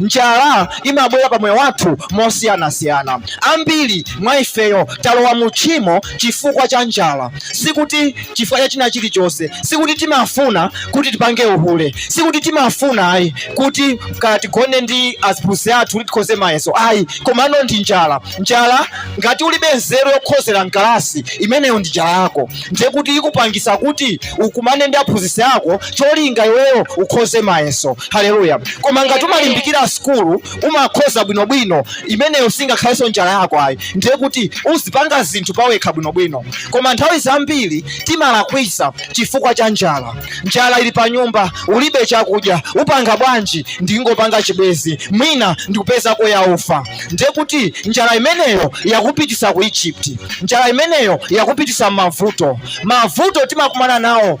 Njala imabwera pa moyo wathu mosiyanasiyana. Ambiri mwa ifeyo talowa mu tchimo chifukwa cha njala. Sikuti chifukwa cha china chilichonse. Sikuti timafuna kuti tipange uhule. Sikuti timafuna ayi kuti kaya tigone ndi aziphunzitsi athu kuti tikhoze mayeso ayi. Komano ndi njala. Njala ngati ulibe nzeru yokhozera mkalasi imeneyo ndi njala yako. Ndiye kuti ikukupangisa kuti ukumane ndi aphunzitsi ako cholinga iweyo ukhoze mayeso haleluya koma ngati umalimbikira sukulu umakhoza bwinobwino imeneyo singakhalenso njala yako ayi ndiye kuti uzipanga zinthu pawekha bwinobwino koma nthawi zambiri timalakwisa chifukwa cha njala njala ili pa nyumba ulibe chakudya upanga bwanji ndingopanga chibwezi mwina ndikupezako ya ufa ndiye kuti njala imeneyo yakupitisa ku egypt njala imeneyo yakupitisa mmavuto mavuto timakumana nawo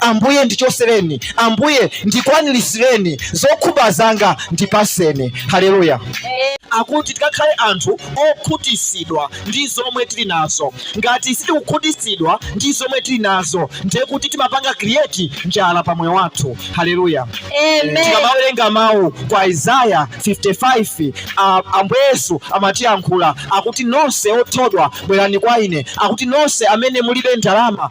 Ambuye ndichosereni, Ambuye ndikwanirisireni zokhumba zanga, ndipaseni. Haleluya. Akuti tikakhale anthu okhutisidwa ndi zomwe tili nazo. Ngati sitikukhutisidwa ndi zomwe tili nazo, ndiye kuti timapanga create njala pa moyo wathu. Haleluya. Amen. Tikamawerenga mawu kwa Isaiah 55, a- Ambuye Yesu amatiyankhula akuti nonse othodwa bwerani kwa ine, akuti nonse amene mulibe ndalama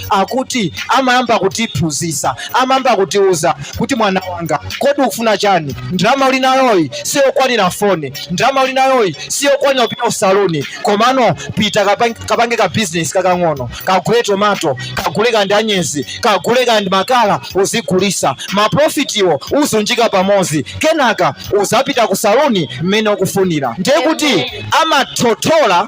akuti amayamba kutiphunzitsa amayamba kutiuza kuti mwana wanga kodi ukufuna chani ndalama uli nayoyi siyokwanira foni ndalama uli nayoyi siyokwanira kupita kusaluni komano pita kapange ka bizinesi kakang'ono kagule tomato kagule kandi anyezi kagule kandi makala uzigulisa maprofitiwo uzunjika pamodzi kenaka uzapita kusaluni mmene ukufunira ndiye kuti amathothola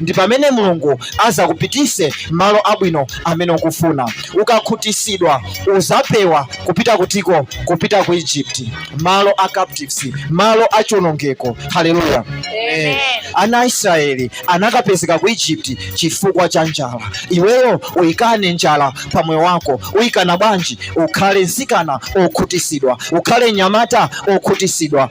ndi pamene mulungu azakupitise malo abwino amene ukufuna ukakhutisidwa uzapewa kupita kutiko kupita ku egypt malo a captives malo a chionongeko haleluya Amen. ana a israeli anakapezeka ku egypt chifukwa cha njala iweyo uyikane njala pa moyo wako uyikana bwanji ukhale nsikana okhutisidwa ukhale nyamata okhutisidwa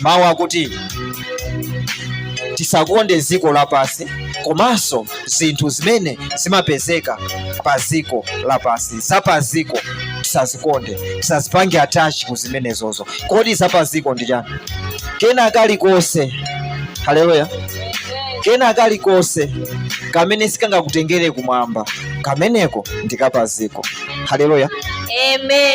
mawu akuti tisakonde dziko lapansi komanso zinthu zimene zimapezeka pa dziko lapansi za pa dziko tisazikonde tisazipange attach ku zimenezozo kodi za pa dziko ndi chani kena kalikonse haleluya kena kalikonse kamene sikangakutengere kumwamba kameneko ndi kapaziko haleluya Amen.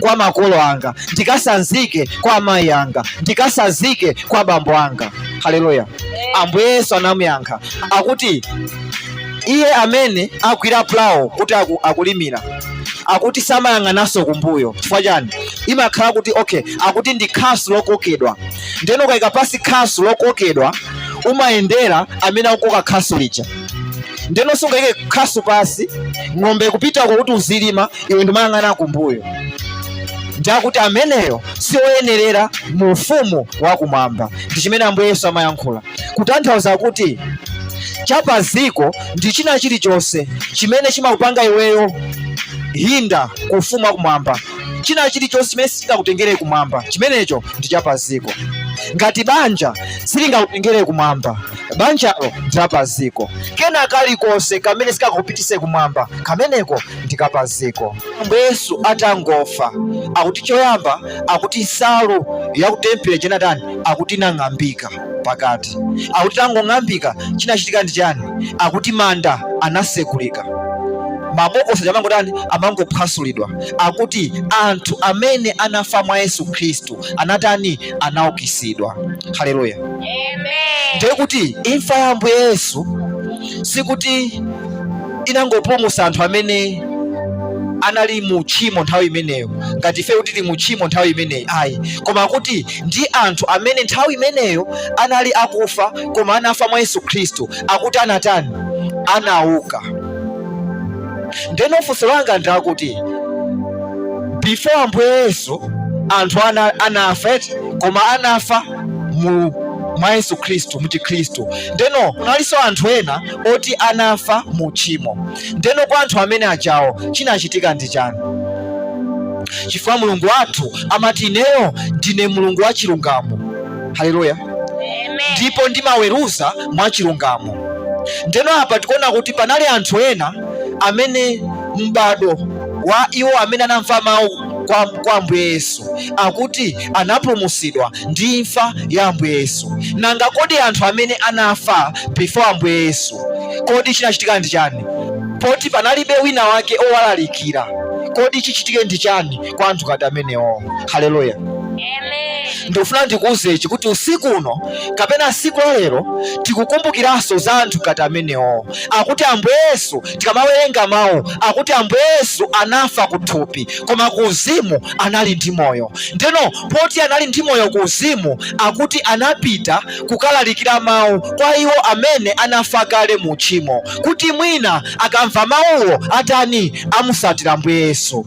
kwa makolo anga ndikasanzike kwa amayi anga ndikasanzike kwa bambo anga haleluya ambuye yesu anamuyankha akuti iye amene agwira pulawo kuti aku, akulimira akuti samayang'ananso kumbuyo chifukwa chani imakhala kuti okay akuti ndi khasu lokokedwa ndeno ukayika pasi khasu lokokedwa umayendera amene akukoka khasu lija ndeno sungayike khasu pasi ng'ombe kupita kwakuti uzilima iwe ndimayang'ana kumbuyo ndiakuti ameneyo si oyenerera mu ufumu wakumwamba ndi chimene ambuye yesu amayankhula kutanthauza kuti chapaziko ndi china chilichonse chimene chimakupanga iweyo hinder ku ufumu wakumwamba china chilichonse chimene sichingakutengere kumwamba chimenecho ndi chapaziko ngati banja silingakutengere kumwamba banjalo ndilapaziko kena kalikonse kamene sikakupitise kumwamba kameneko ndikapaziko ambuye yesu atangofa akuti choyamba akuti nsalu yakutempere chenatani akuti inang'ambika pakati akuti itangong'ambika chinachitika ndi chani akuti manda anasekulika mabokosi amangotani amangophwasulidwa akuti anthu amene anafa mwa yesu khristu anatani? Anaukitsidwa. Haleluya! Ndiye kuti imfa ya Ambuye Yesu sikuti inangopulumutsa anthu amene anali mu tchimo nthawi imeneyo ngati ife kuti tili mu tchimo nthawi imeneyi ayi koma kuti ndi anthu amene nthawi imeneyo anali akufa koma anafa mwa yesu khristu akuti anatani anauka ndeno funso langa ndi lakuti before ambuye yesu anthu anafa koma anafa mwa yesu khristu muchikhristu ndeno kunalinso anthu ena oti anafa mu tchimo ndeno kwa anthu amene ajawo chinachitika ndi chani chifukwa mulungu wathu amati ineyo ndine mulungu wa chilungamo haleluya ndipo ndimaweruza mwachilungamo ndeno apa tikuona kuti panali anthu ena amene m'bado wa iwo amene anamva mawu kwa, kwa ambuye yesu akuti anapulumusidwa ndi imfa ya ambuye yesu nanga kodi anthu amene anafa before ambuye yesu kodi chinachitika ndi chani poti panalibe wina wake owalalikira kodi chichitike ndi chani kwa anthu ngati amenewo haleluya ndikufuna ndikuuze ichi kuti usiku uno kapena siku la lero tikukumbukiranso za anthu ngati amenewo akuti ambuye yesu tikamawerenga mawu akuti ambuye yesu anafa kuthupi koma ku uzimu anali ndi moyo ndeno poti anali ndi moyo ku uzimu akuti anapita kukalalikira mawu kwa iwo amene anafa kale mu tchimo kuti mwina akamva mawuwo atani amusatire ambuye yesu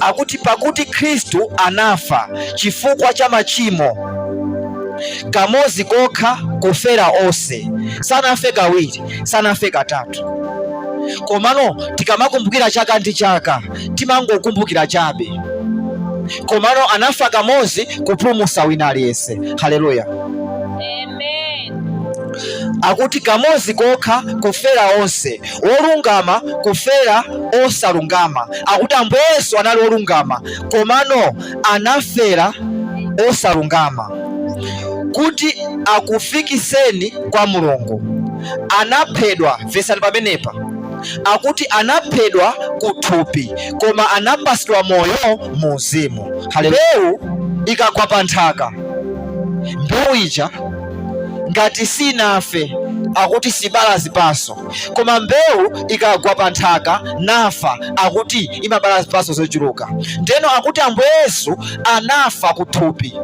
akuti pakuti Khristu anafa chifukwa cha machimo kamodzi kokha kufera onse, sanafe kawiri, sanafe katatu. Komano tikamakumbukira chaka ndi chaka timangokumbukira chabe, komano anafa kamodzi kupulumutsa wina aliyense. Haleluya, amen. Akuti kamodzi kokha kufera onse wolungama kufera osalungama akuti ambuye yesu anali wolungama komano anafera osalungama kuti akufikiseni kwa mulungu anaphedwa mvetsani pamenepa akuti anaphedwa kuthupi koma anapatsidwa moyo mu uzimu mbewu ikagwa pa nthaka mbewu ija ngati sinafe akuti sibala zipatso koma mbewu ikagwa pa nthaka nafa akuti imabala zipatso zochuluka ndeno akuti ambuye yesu anafa kuthupi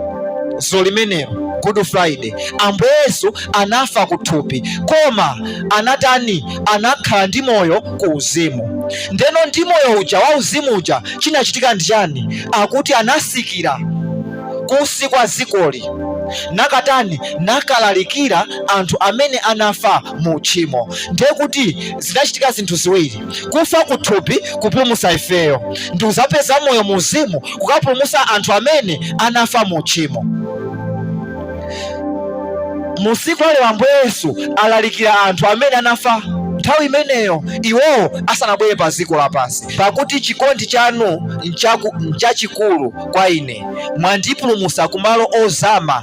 tsiku limenelo good friday ambuye yesu anafa kuthupi koma anatani anakhala ndi moyo ku uzimu ndeno ndi moyo uja wa uzimu uja chinachitika ndi chani akuti anatsikira kunsi kwa dzikoli nakatani nakalalikira anthu amene anafa mu tchimo ndiye kuti zinachitika zinthu ziwiri kufa kuthupi kupulumutsa ifeyo ndi kudzapeza moyo mu uzimu kukapulumutsa anthu amene anafa mu tchimo masiku akale ambuye yesu alalikira anthu amene anafa nthawi imeneyo iwowo asanabwere pa dziko lapansi pakuti chikondi chanu nchachikulu kwa ine mwandipulumutsa kumalo ozama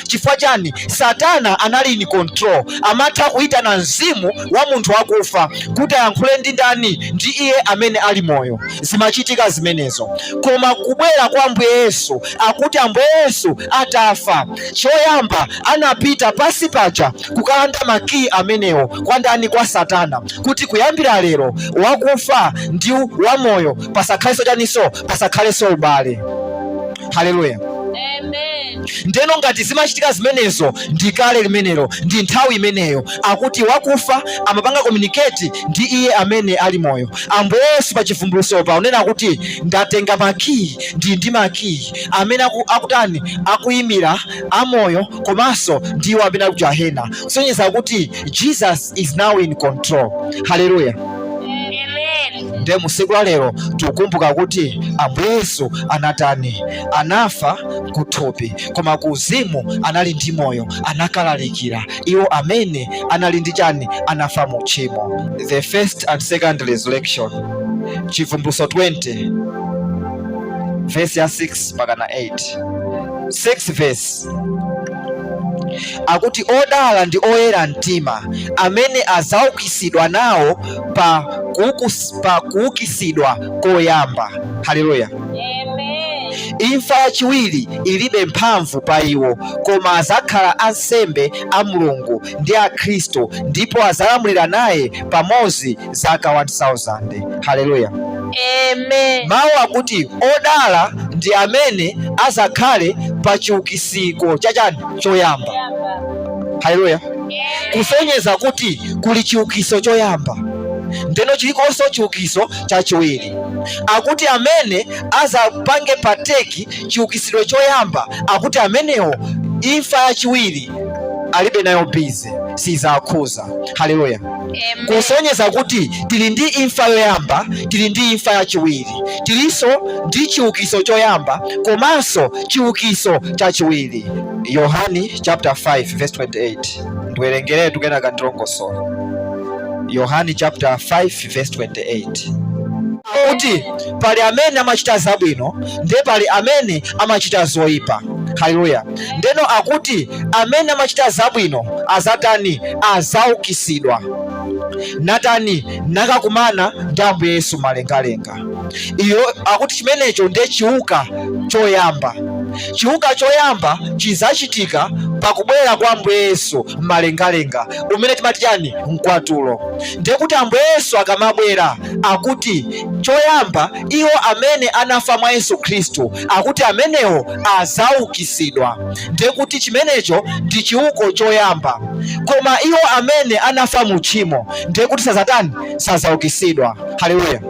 chifukwa chani satana anali in control amatha kuyitana mzimu wa munthu wakufa kuti ayankhule ndi ndani ndi iye amene ali moyo zimachitika zimenezo koma kubwera kwa ambuye yesu akuti ambuye yesu atafa choyamba anapita pansi paja kukalanda makiyi amenewo kwa ndani kwa satana kuti kuyambira lero wakufa ndi wamoyo pasakhalenso chaninso pasakhalenso ubale haleluya ndeno ngati zimachitika zimenezo ndi kale limenelo ndi nthawi imeneyo akuti wakufa amapanga communicate ndi iye amene ali moyo ambuye yesu pa chivumbulutso pa kunena kuti ndatenga makiyi ndi ndi makiyi amene akutani akuyimira amoyo komanso ndi iwo amene akujahena kusonyeza kuti jesus is now in control haleluya nde mu tsiku la lero tikukumbuka kuti ambuye yesu anatani anafa kuthupi koma ku uzimu anali ndi moyo anakalalikira iwo amene anali ndi chani anafa mu tchimo the first and second resurrection chivumbulutso 20 vesi ya 6 mpaka na 8 6 vesi akuti odala ndi oyera mtima amene adzaukitsidwa nawo pa kuukus- pa kuukitsidwa koyamba haleluya Amen. imfa yachiwiri ilibe mphamvu pa iwo koma adzakhala ansembe a mulungu ndi a khristu ndipo adzalamulira naye pamodzi zaka 1000 haleluya Amen. mawu akuti odala ndi amene azakhale pa chiukitso cha chani choyamba haleluya kusonyeza kuti kuli chiukiso choyamba ndeno chiliponso chiukiso chachiwiri akuti amene azapange partake chiukisidwe choyamba akuti amenewo imfa yachiwiri alibe nayo bizi sizakhuza haleluya kusonyeza kuti tili ndi imfa yoyamba tili ndi imfa yachiwiri tilinso ndi chiukiso choyamba komanso chiukiso chachiwiri yohani chapter 5 verse 28 ndiwerengere kenaka ndilongosola yohani chapter 5 verse 28 kuti pali amene amachita zabwino ndiye pali amene amachita zoyipa haleluya Ndeno akuti amene amachita zabwino azatani? Azaukitsidwa natani? Nakakumana ndi Ambuye Yesu m'malengalenga. Iyo akuti chimenecho ndiye chiuka choyamba. Chiuka choyamba chizachitika pakubwera kwa Ambuye Yesu m'malengalenga, umene timati chani? Mkwatulo. Ndiye kuti Ambuye Yesu akamabwera akuti choyamba iwo amene anafa mwa Yesu Khristu akuti amenewo adzaukitsidwa, ndiye kuti chimenecho ndi chiuko choyamba. Koma iwo amene anafa mu tchimo ndiye kuti sadzatani? Sadzaukitsidwa. Haleluya!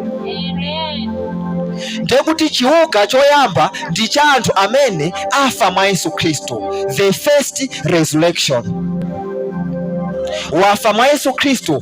Ndiye kuti chiuka choyamba ndi cha anthu amene afa mwa Yesu Khristu, the first resurrection. Wafa mwa Yesu Khristu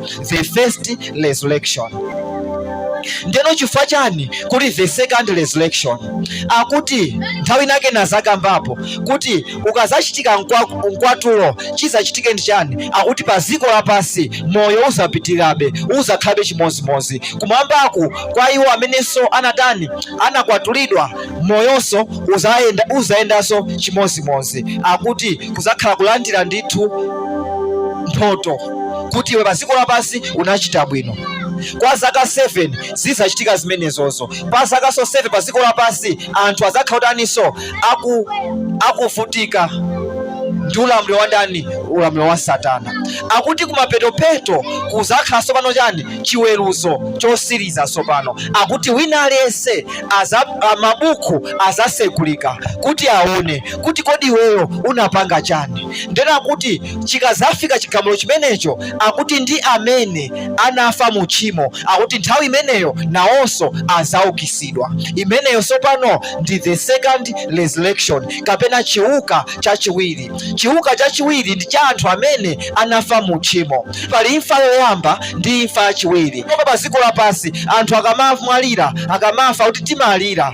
the first resurrection ndeno chifukwa chani kuli the second resurrection akuti nthawi inake ndinazakambapo kuti ukazachitika mkwa- mkwatulo chizachitike ndi chani akuti pa dziko lapansi moyo uzapitirirabe uzakhalabe chimodzimodzi kumwambaku kwa iwo amenenso anatani anakwatulidwa moyonso uzayenda uzayendanso chimodzimodzi akuti kuzakhala kulandira ndithu mphoto kuti iwe pa dziko lapansi unachita bwino kwa zaka 7 zidzachitika zimenezozo kwa zakanso 7 pa dziko lapansi anthu azakhala akutaninso aku akuvutika ndi ulamuliro wa ndani ulamuliro wa satana akuti kumapetopeto kuzakhala tsopano chani chiweruzo chotsiriza tsopano akuti wina aliyense aza- a- mabuku azasegulika kuti aone kuti kodi iweyo unapanga chani ndiye kuti chikazafika chigamulo chimenecho akuti ndi amene anafa mu tchimo akuti nthawi imeneyo nawonso azaukisidwa imeneyo sopano ndi the second resurrection kapena chiuka chachiwiri chiuka chachiwiri ndi cha anthu amene anafa mu tchimo pali imfa yoyamba ndi imfa yachiwiri koma pa dziko lapansi anthu akamamwalira akamafa kuti timalira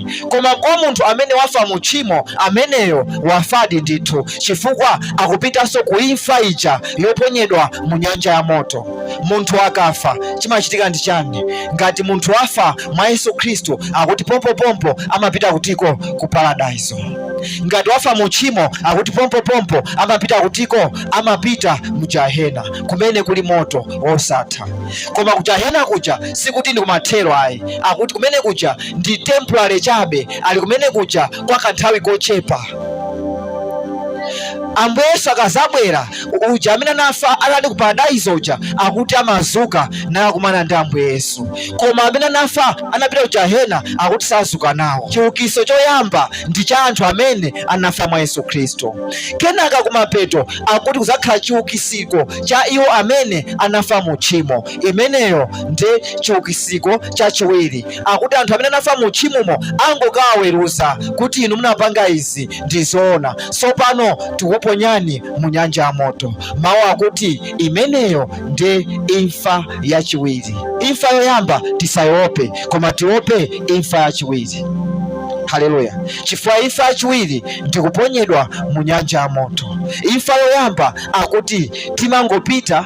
koma kwa munthu amene wafa mu tchimo ameneyo wafadi ndithu chifukwa akupitanso ku imfa ija yoponyedwa mu nyanja ya moto munthu akafa chimachitika ndi chani ngati munthu wafa mwa yesu khristu akuti pompopompo amapita kutiko ku paradaiso ngati wafa mu tchimo akuti pompopompo amapita kutiko amapita mu jahena kumene kuli moto wosatha koma ku jahena kuja sikuti ndi kumathero ayi akuti kumene kuja ndi temporary chabe ali kumene kuja kwa kanthawi kochepa ambuye yesu akazabwera uja amene anafa anali ku paradaizo uja akuti amazuka nakumana ndi ambuye yesu koma amene anafa anapita ku jahena akuti sazuka nawo chiukiso choyamba ndi cha anthu amene anafa mwa yesu khristu kenaka kumapeto akuti kuzakhala chiukisiko cha iwo amene anafa mu tchimo imeneyo ndi chiukisiko chachiwiri akuti anthu amene anafa mu tchimomo angokawaweruza kuti inu munapanga izi ndi zoona tsopano tikuponyani mu nyanja ya moto mawu akuti imeneyo ndi imfa yachiwiri imfa yoyamba tisaiope koma tiope imfa yachiwiri haleluya chifukwa imfa yachiwiri ndikuponyedwa mu nyanja ya moto imfa yoyamba akuti timangopita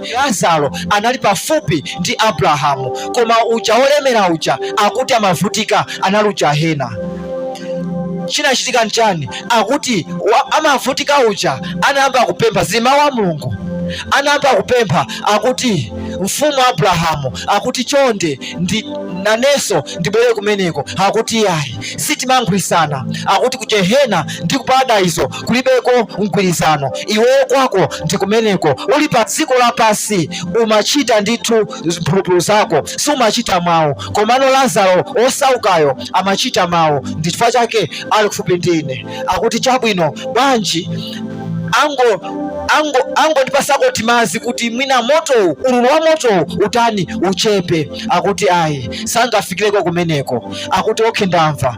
Lazaro anali pafupi ndi Abrahamu, koma uja wolemera uja akuti amavutika anali ku jahena. Chinachitika nchani? Akuti wa, amavutika uja anayamba kupempha, zili mmawu a Mulungu, anayamba kupempha akuti mfumu Abrahamu akuti chonde ndi nanenso ndibwere kumeneko, akuti yayi sitimankhwisana, akuti kujahena ndi kuparadaizo kulibeko mgwirizano iweyo kwako ndi kumeneko uli pa dziko lapansi umachita ndithu mphulupulu zako sumachita mawu komano lazaro osaukayo amachita mawu ndi chifukwa chake ali kufupi ndi ine akuti chabwino bwanji angondipasako timazi kuti mwina motowu ululu wa motowu utani uchepe akuti ayi sangafikireko kumeneko akuti okhe ndamva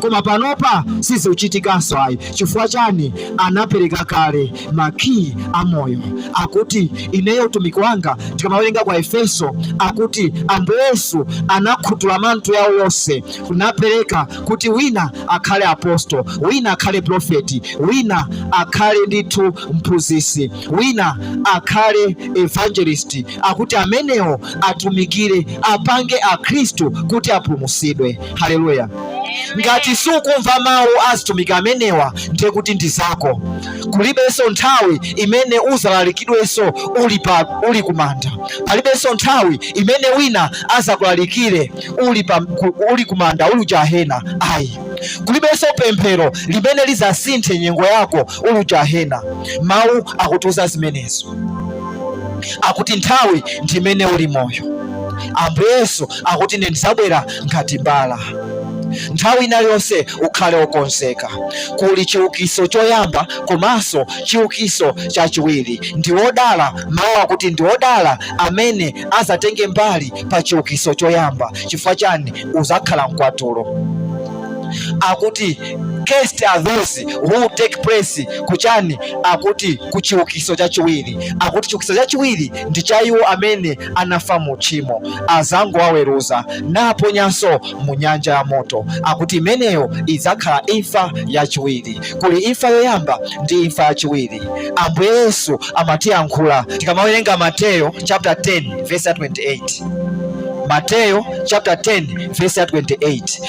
koma panopa sizikuchitikanso ayi chifukwa chani anapereka kale makiyi a moyo akuti ineyo utumiki wanga tikamawerenga kwa efeso akuti ambuye yesu anakhuthula manthu yawo yonse kunapereka kuti wina akhale apostolo wina akhale profeti wina akhale ndithu mphunzitsi wina akhale evangelist akuti amenewo atumikire apange akhristu kuti apulumutsidwe haleluya ngati sukumva mawu azitumiki amenewa ndiye kuti ndi zako kulibenso nthawi imene uzalalikidwenso uli kumanda palibenso nthawi imene wina azakulalikire uli kumanda uli kujahena ayi kulibenso pemphero limene lizasinthe nyengo yako uli kujahena mawu akutiuza zimenezo akuti nthawi ndi imene uli moyo ambuye yesu akuti ine ndizabwera ngati mbala nthawi ina iliyonse ukhale wokonzeka kuli chiukiso choyamba komanso chiukiso chachiwiri ndi wodala mawu akuti ndi wodala amene azatenge mbali pa chiukiso choyamba chifukwa chani uzakhala mkwatulo akuti Cursed are those who take place kuchani akuti kuchiukiso chachiwiri akuti chiukiso chachiwiri ndi cha iwo amene anafa mu tchimo azangowaweruza naponyanso mu nyanja ya moto akuti imeneyo idzakhala imfa yachiwiri kuli imfa yoyamba ndi imfa yachiwiri ambuye yesu amatiyankhula tikamawerenga mateyo chapter 10 verse 28 mateyo chapter 10 verse 28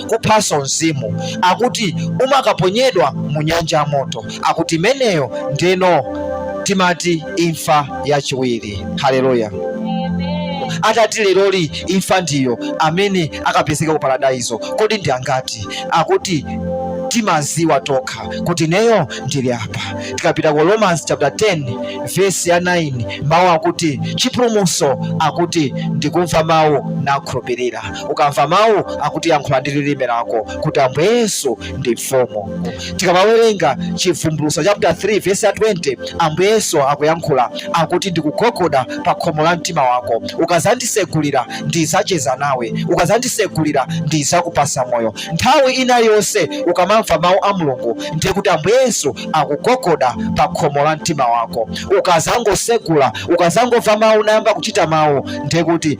kuphanso mzimu akuti umakaponyedwa mu nyanja ya moto akuti imeneyo ndeno timati imfa yachiwiri haleluya atati leroli imfa ndiyo amene akapezeka ku paradaizo kodi ndi angati akuti timaziwa tokha kuti neyo ndili apa tikapita ku romans chapter 10 verse ya 9 mawu akuti chipulumuso akuti ndikumva mawu nakhulupirira ukamva mawu akuti yankhula ndi lilime lako kuti ambuye yesu ndi mfumu tikamawerenga chivumbulutso chapter 3 vesi ya 20 ambuye yesu akuyankhula akuti ndikugogoda pa khomo la mtima wako ukazandisegulira ndizacheza nawe ukazandisegulira ndizakupasa moyo nthawi ina iliyonse ukamamva mawu a mulungu ndiye kuti ambuye yesu akugogoda pa khomo la mtima wako ukazangosegula ukazangomva mawu nayamba kuchita mawu ndiye kuti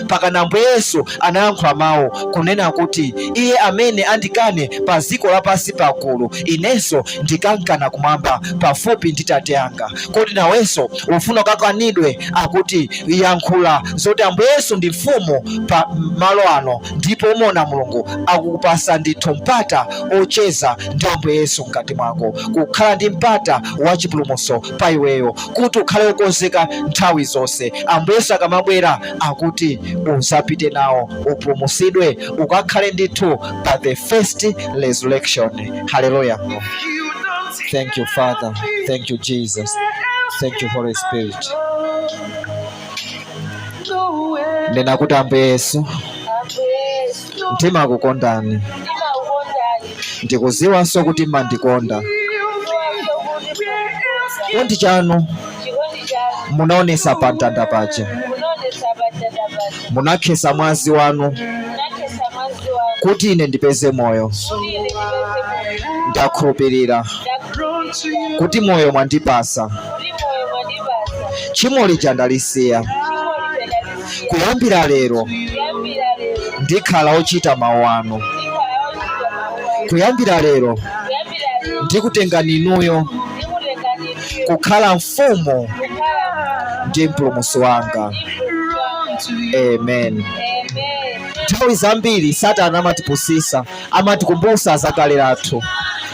mpakana Ambuye Yesu anayankhula mawu kunena kuti iye amene andikane pa dziko lapansi pagulu inenso ndikankana kumwamba pafupi ndi tate anga kodi nawenso ufuna ukakanidwe akuti yankhula zoti Ambuye Yesu ndi mfumu pa malo ano ndipo umuona Mulungu akukupasa ndithu mpata ocheza ndi Ambuye Yesu mkati mwako kukhala ndi mpata wa chipulumutso pa iweyo kuti ukhale wokonzeka nthawi zonse Ambuye Yesu akamabwera akuti uzapite nawo upulumusidwe ukakhale ndithu pa the first resurrection haleluya thank you father thank you jesus thank you holy spirit nena kuti ambuye yesu ndimakukondani ndimakukondani ndikuziwanso kuti mmandikonda ndikuziwanso kuti mmandikonda chikondi chanu chikondi chanu munaonesa pa mtanda paja munaonesa pa mtanda paja munakhesa mwazi wanu munakhesa mwazi wanu kuti ine ndipeze moyo kuti ine ndipeze moyo ndakhulupirira ndakhulupirira kuti moyo mwandipasa kuti moyo mwandipasa tchimo lija ndalisiya tchimo lija ndalisiya Kuyambira lero ndikhala ochita mawu anu. Kuyambira lero ndikutengani inuyo kukhala mfumu ndi mpulumusi wanga. Amen. Nthawi zambiri Satana amatipusisa amatikumbutsa za kale lathu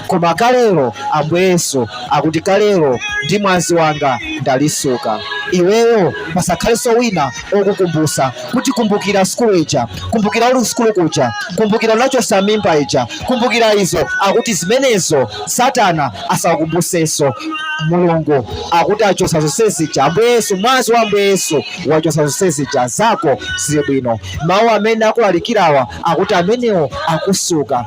koma kalelo ambuye yesu akuti kalelo ndi mwazi wanga ndalisuka iweyo pasakhalenso wina okukumbutsa kuti kumbukira sukulu ija kumbukira uli sukulu kuja kumbukira unachosa mimba ija kumbukira izo akuti zimenezo satana asakumbutsenso mulungu akuti achosa zonse zija ambuye yesu mwazi wa ambuye yesu wachosa zonse zija zako zili bwino mawu amene akulalikirawa akuti amenewo akusuka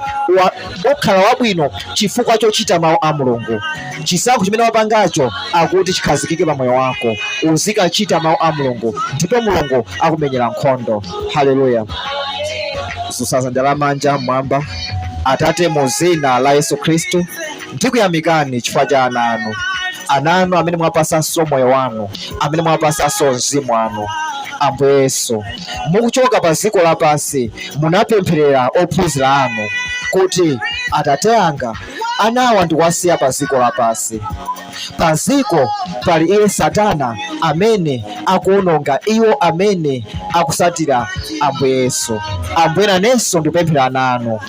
ukhala wabwino chifukwa chochita mawu a mulungu chisankho chimene wapangacho akuti chikhazikike pa moyo wako uzikachita mawu a mulungu ndipo mulungu akumenyera nkhondo haleluya dzutsa dzanja la manja mmwamba atate mu zina la yesu khristu Ndikuyamikani chifukwa cha ana anu, ana anu amene mwapasanso moyo wanu, amene mwapasanso mzimu wanu. Ambuye Yesu, mukuchoka pa dziko lapansi munapempherera ophunzira anu kuti atate anga anawa ndikuwasiya pa dziko lapansi. Pa dziko pali iye Satana amene akuononga iwo amene akusatira Ambuye Yesu. Ambuye nanenso ndikupemphera ana anu.